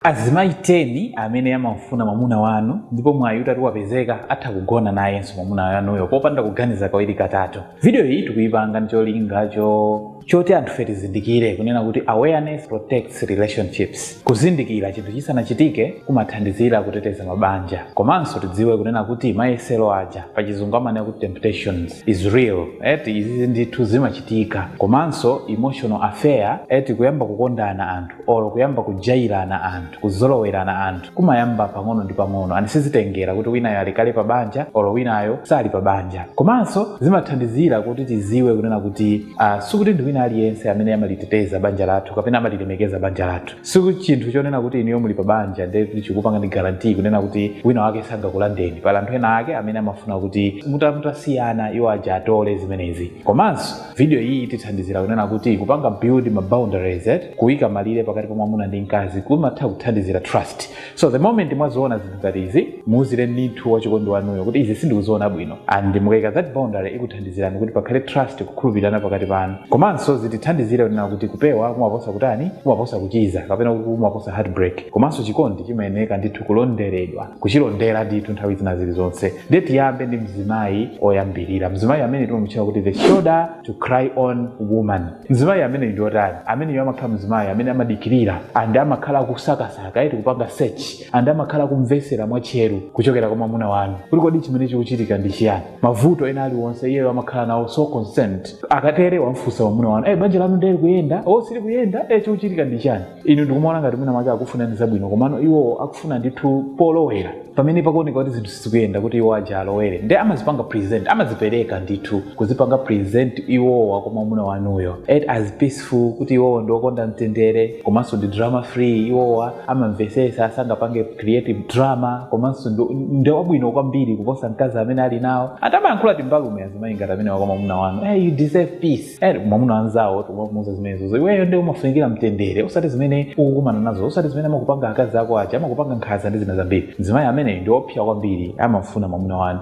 Azimayi 10 amene amamufuna mwamuna wanu ndipo mwayi utati wapezeka atha kugona nayenso mwamuna wanuyo popanda kuganiza kawiri katatu. Video iyi tikuyipanga ndi cholinga choti anthufe tizindikire kunena kuti awareness protects relationships. Kuzindikira chinthu chisanachitike kumathandizira kuteteza mabanja. Komanso tidziwe kunena kuti mayesero aja pachizungu amanena kuti temptations is real eti izizi ndithu zimachitika komanso emotional affair eti kuyamba kukondana anthu. or kuyamba kujairana anthu kuzolowerana anthu kumayamba pang'ono ndi pang'ono and sizitengera kuti winayo ali kale pa banja or winayo sali pa banja komanso zimathandizira kuti tiziwe kunena kuti uh, sikuti ndi wina aliyense amene amaliteteza banja lathu kapena amalilemekeza banja lathu si chinthu chonena kuti inuyo muli pa banja ndiye kuti chikupanga ndi guarantee kunena kuti wina wake sangakulandeni pali anthu ena ake amene amafuna kuti muta- mutasiyana iwo aja atole zimenezi komanso vidiyo iyi itithandizira kunena kuti kupanga build ma boundaries eh? kuyika malire pakati pa mwamuna ndi mkazi kumatha kuthandizira trust so the moment mwaziona zinthu ngati izi muuzire ndithu wachikondi wanuyo kuti izi sindikuziona bwino and mukayika that boundary ikuthandizirani kuti pakhale trust kukhulupirirana pakati panu komanso zitithandizire kunena kuti kupewa kumaposa kutani kumaposa kuchiza kapena kuti kumaposa heartbreak komanso chikondi chimayeneka ndithu kulonderedwa kuchilondera ndithu nthawi zina zilizonse ndiye tiyambe ndi mzimayi oyambirira mzimayi amene timamutchula kuti the shoulder to cry on woman mzimayi ameneyu ndi otani ameneyo amakhala mzimayi amene amadikirira and amakhala akusakasaka eti kupanga search and amakhala akumvesera mwatcheru kuchokera kwa mwamuna wanu kuti kodi chimene chikuchitika ndi chiyani mavuto ena aliwonse iyeyo amakhala nawo so concerned akatere wamfunsa mwamuna wanu e banja lanu nde likuyenda or sili kuyenda e chikuchitika ndi chani inu ndikumaona ngati mwina mwake akufunani zabwino komano iwo akufuna ndithu polowera pamene pakuoneka kuti zinthu sizikuyenda kuti iwo aja alowere nde amazipanga present amazipereka ndithu kuzipanga present iwowa kwa mwamuna wanuyo eti as peaceful kuti iwowo ndi okonda mtendere komanso ndi drama free iwowa amamvesesa sangapange create drama komanso ndi- ndi wabwino kwambiri kuposa mkazi amene ali nawo atamayankhula timbalume azimayi ngati amenewa kwa mwamuna wanu hey, you deserve peace eti mwamuna anzawo timamuuza zimenezozo iweyo ndi umafunikira mtendere osati zimene ukukumana nazo osati zimene amakupanga akazi ako aja amakupanga nkhaza ndi zina zambiri mzimayi ameneyo ndi opsa kwambiri amafuna mwamuna wanu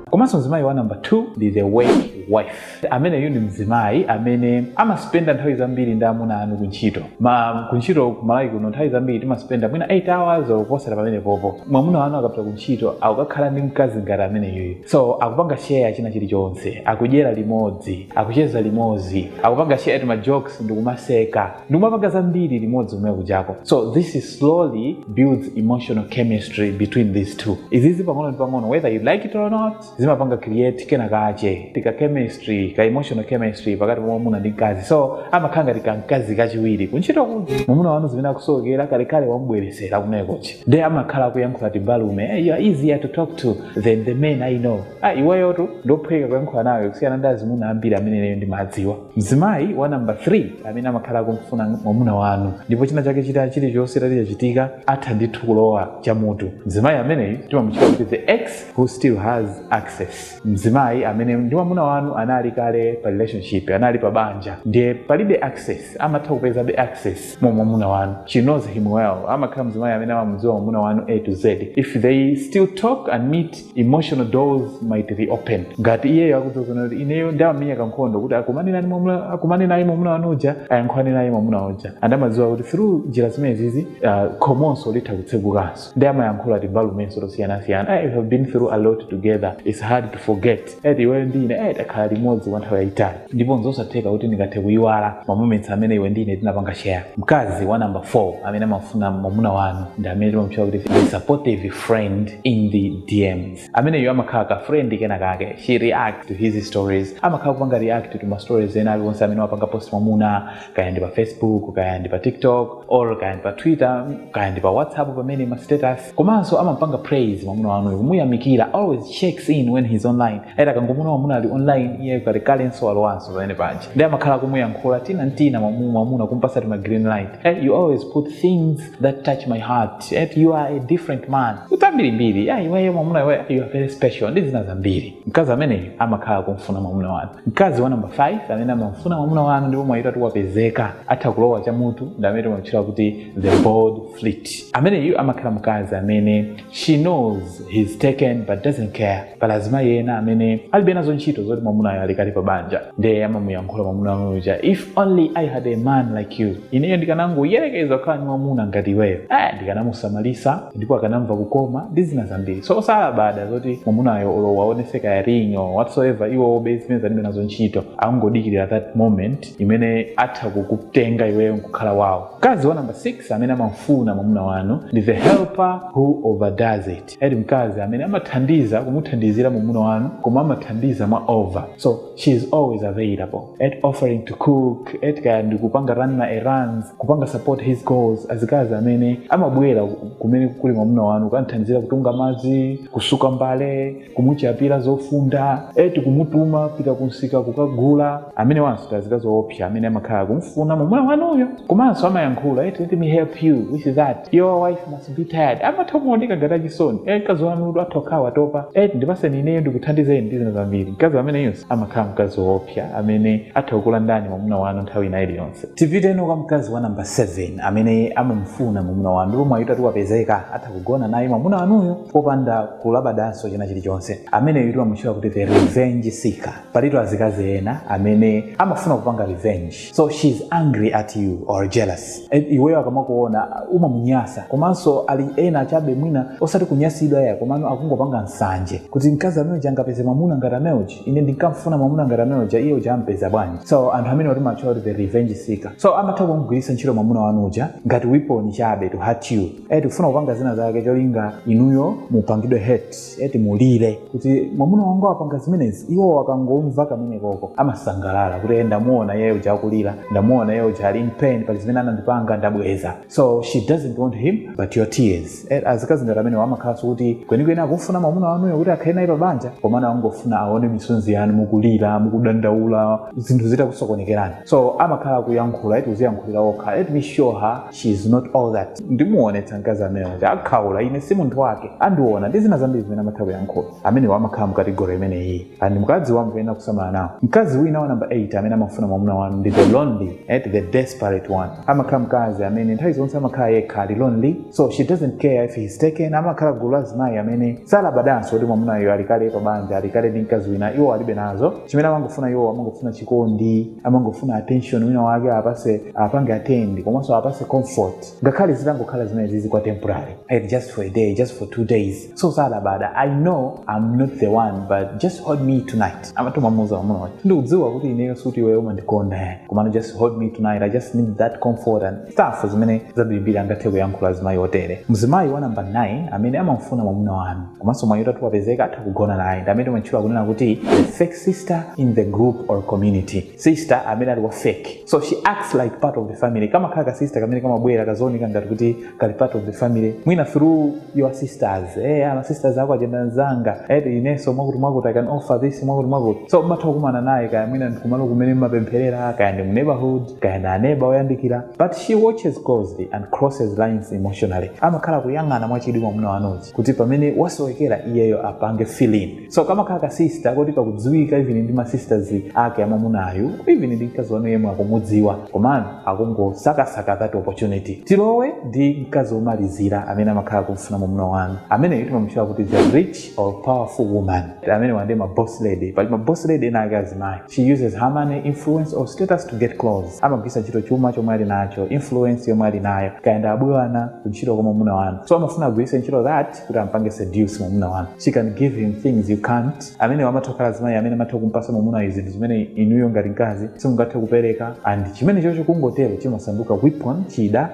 komanso mzimayi wa namba 2 ndi the work wife ameneyu ndi mzimayi amene amaspenda nthawi zambiri ndi amuna anu kuntchito ma kuntchito ku Malawi kuno nthawi zambiri timaspenda mwina 8 hours or kuposera pamenepopo mwamuna wanu akapita kuntchito akukakhala ndi mkazi ngati ameneyuyu so akupanga share china chilichonse akudyera limodzi akucheza limodzi akupanga share ti majokes ndikumaseka ndikumapanga zambiri limodzi kumene kujako so this slowly builds emotional chemistry between these two izizi pang'ono ndi pang'ono whether you like it or not zimapanga create kena kache ti ka chemistry ka emotional chemistry pakati pa mwamuna ndi mkazi so amakhala ngati ka mkazi kachiwiri kuntchito kuti mwamuna wanu zimene akusowekera kalekale wamubweretsera mu nekochi nde amakhala akuyankhula timbalume hey, you are easier to talk to than the men i know ah, iweyotu ndophweka kuyankhula nawe kusiyana ndi azimuna ambiri amene leyo ndimadziwa mzimayi wa namba 3 amene amakhala akumfuna mwamuna wanu ndipo china chake chita chilichonse chitati chachitika atha ndithu kulowa chamutu mzimayi ameneyu timamutcha kuti the ex who still has access mzimayi amene ndi mwamuna wanu anali kale pa relationship anali pa banja ndiye alibe access amatha kupezabe access kwa mwamuna wanu she knows him well amakhala mzimayi amene amamudziwa mwamuna wanu a to z if they still talk and meet emotional doors might reopen ngati iyeyo akudziwa zoona kuti ineyo ndamamenya kankhondo kuti akumane naye mwamuna akumane naye mwamuna wanu uja ayankhulane naye mwamuna uja and amadziwa kuti through njira zimenezizi uh, khomonso litha kutsegukanso ndi amayankhula timbalumenso tosiyanasiyana hey, we have been through a lot together its hard to forget eti iweyo ndi ine hey, takhala limodzi kwa nthawi yayitali ndipo nzosatheka kuti ndingathe kuyiwala mamoments amene iwe ndi ine tinapanga share mkazi wa number 4 amene amafuna mwamuna wanu ndi amene timamutchula kuti a supportive friend in the dms ameneyo amakhala ka friend kena kake she reacts to his stories amakhala kupanga react to ma stories ena aliwonse amene wapanga post mwamuna kaya ndi pa facebook kaya ndi pa tiktok or kaya ndi pa twitter kaya ndi pa whatsapp pamenepo ma status komanso amampanga praise mwamuna wanuyo kumuyamikira always checks in when he's online ati akangomuona mwamuna ali online iye kalekalenso walowanso pamene paja ndi amakhala akumuyankhula tina n'tina mwamu- mwamuna kumpasa tima green light eh, you always post things that touch my heart eh, you are a different man ndi zambirimbiri ah, iweyo mwamuna iwe you are very special ndi zina zambiri mkazi ameneyu amakhala akumfuna mwamuna wanu mkazi wa namba 5 amene amamfuna mwamuna wanu ndipo mwayi utati wapezeka atha kulowa chamutu ndi amene timamutchula kuti the bold flirt ameneyu amakhala mkazi amene she knows he's taken but doesn't care pali azimayi ena amene alibe nazo ntchito zoti mwamunayo ali kale pa banja ndiye amamuyankhula mwamuna wanu uja if only i had a man like you ineyo ndikanangoyerekeza kukhala ndi mwamuna ngati iweyo eh, ndikanamusamalitsa ndipo akanamva kukoma ndi zina zambiri so salabada zoti mwamunayo olo awaonetse kaya ring or whatsoever iwo obe zimene alibe nazo ntchito akungodikirira that moment imene atha kukutenga iweyo nkukhala wawo mkazi wa namba 6 amene amamfuna mwamuna wanu ndi the helper who overdoes it eti mkazi amene amathandiza kumuthandizira mwamuna wanu koma amathandiza mwa over so she is always available eti offering to cook eti kaya ndikupanga run ma errands kupanga support his goals azikazi amene amabwera kumene kuli mwamuna wanu kukamthandizira kutunga madzi kusuka mbale kumuchapira zofunda eti kumutuma pita kumsika kukagula amenewanso ndi azikazi oopsa amene amakhala kumfuna mwamuna wanuyo komanso amayankhula eti let me help you with that your wife must must be tired amatha kumaoneka ngati achisoni eh mkazi wanutu atha kukhala watopa eh ndipatseni ineyo ndikuthandizeni ndi zina zambiri mkazi ameneyonso amakhala mkazi woopsa amene atha kukulandani mwamuna wanu nthawi ina iliyonse tipite no kwa mkazi wa namba 7 amene amamufuna mwamuna wanu ndipo mwayi utati wapezeka atha kugona naye mwamuna wanuyo popanda kulabadanso china chilichonse ameneyu timamutchula kuti the revenge seeker palitu azikazi ena amene amafuna kupanga revenge so she's angry at you or jealous eh, iweyo akamakuona umamunyasa komanso ali ena achabe mwina osati kunyasidwa ya komano akungopanga nsanje kuti mkazi ameuja angapeze mwamuna ngati ameuja ine ndinkamfuna mwamuna ngati ameuja iye uja ampeza bwanji so anthu amenewa timawatchula kuti the revenge seeker so amatha kumugwiritsa ntchito mwamuna wanu uja ngati weapon chabe to hurt you eti kufuna kupanga zina zake cholinga inuyo mupangidwe hurt eti mulire kuti mwamuna wanga wapanga zimenezi iwo akangomva kamene koko amasangalala kuti "Eh, ndamuona yeye uja akulira ndamuona yeye uja ali in pain pali zimene anandipanga ndabweza so she doesn't want him but your tears Eh, azikazi ngati amenewa amakhala osati kuti kwenikweni akufuna mwamuna wanuyo kuti akhale naye pabanja komano amangofuna aone misonzi yanu mukulira mukudandaula zinthu zitakusokonekerani so amakhala akuyankhula eti kudziyankhulira okha let me show her she is not all that ndimuonetsa mkazi ameneyu kuti akhaula ine si munthu wake andiona ndi zina zambiri zimene amatha kuyankhula amenewo amakhala mu kategori imeneyi and mkazi wanu akuyenera kusamala nawo mkazi wina wa namba 8 amene amafuna mwamuna wanu ndi the lonely and the desperate one amakhala mkazi amene nthawi zonse amakhala yekha ali lonely so she doesn't care if he's taken amakhala gulu la azimayi amene salabadanso kuti mwamunayo ali kale pa banja ali kale ndi mkazi wina iwo alibe nazo chimene amangofuna iwo amangofuna chikondi amangofuna attention wina wake awapatse awapange attend komanso awapatse comfort ngakhale zitangokhala zimenezi zili kwa temporary and just for a day just for two days so salabada i know i'm not the one but just hold me tonight amatomamuza mamunayo kuti ndikudziwa kuti ineyo sikuti iweyo umandikonda ayi komano just hold me tonight i just need that comfort and stuff zimene zambirimbiri angathe kuyankhula azimayi otere mzimayi wa namba 9 amene amamfuna mwamuna wanu komanso mwayi utati wapezeka atha kugona naye ndi amene timatchula kunena kuti the fake sister in the group or community sister amene ali wa fake so she acts like part of the family kamakhala ka sister kamene kamabwera kazioneka ngati kuti kali part of the family mwina through your sisters eh ma sisters ako aja nda nzanga eh inenso mwakuti mwakuti i can offer this mwakuti mwakuti so mmatha kukumana naye kaya mwina ndi kumalo kumene mmapempherera kaya ndi mu neighborhood kaya ndi aneba oyandikira but she watches closely and crosses lines emotionally amakhala kuyang'ana mwachidwi mwamuna wanu uja kuti pamene mwasowekera iyeyo apange fill in so kamakhala ka sister koti kakudziwika even ndi ma sisters ake amamunayu even ndi mkaziwe nawe yemwe akukudziwa komano akungosakasaka that opportunity tilowe ndi mkazi womalizira amene amakhala kumfuna mwamuna wanu ameneyo timamutchula kuti the rich or powerful woman amenewa nde ma boss lady pali ma boss lady ena ake azimayi She uses her money, influence or status to get close. Amagwiritsa ntchito chuma chomwe ali nacho, influence yomwe ali nayo, kaya ndi abwana, kuntchito kwa mwamuna wanu. So amafuna agwiritse ntchito that kuti ampange seduce mwamuna wanu. She can give him things you can't. Amene amatha kukhala azimayi amene amatha kumpasa mwamuna zinthu zimene inuyo ngati mkazi simungathe kupereka and chimenecho chikungotero chimasanduka weapon, chida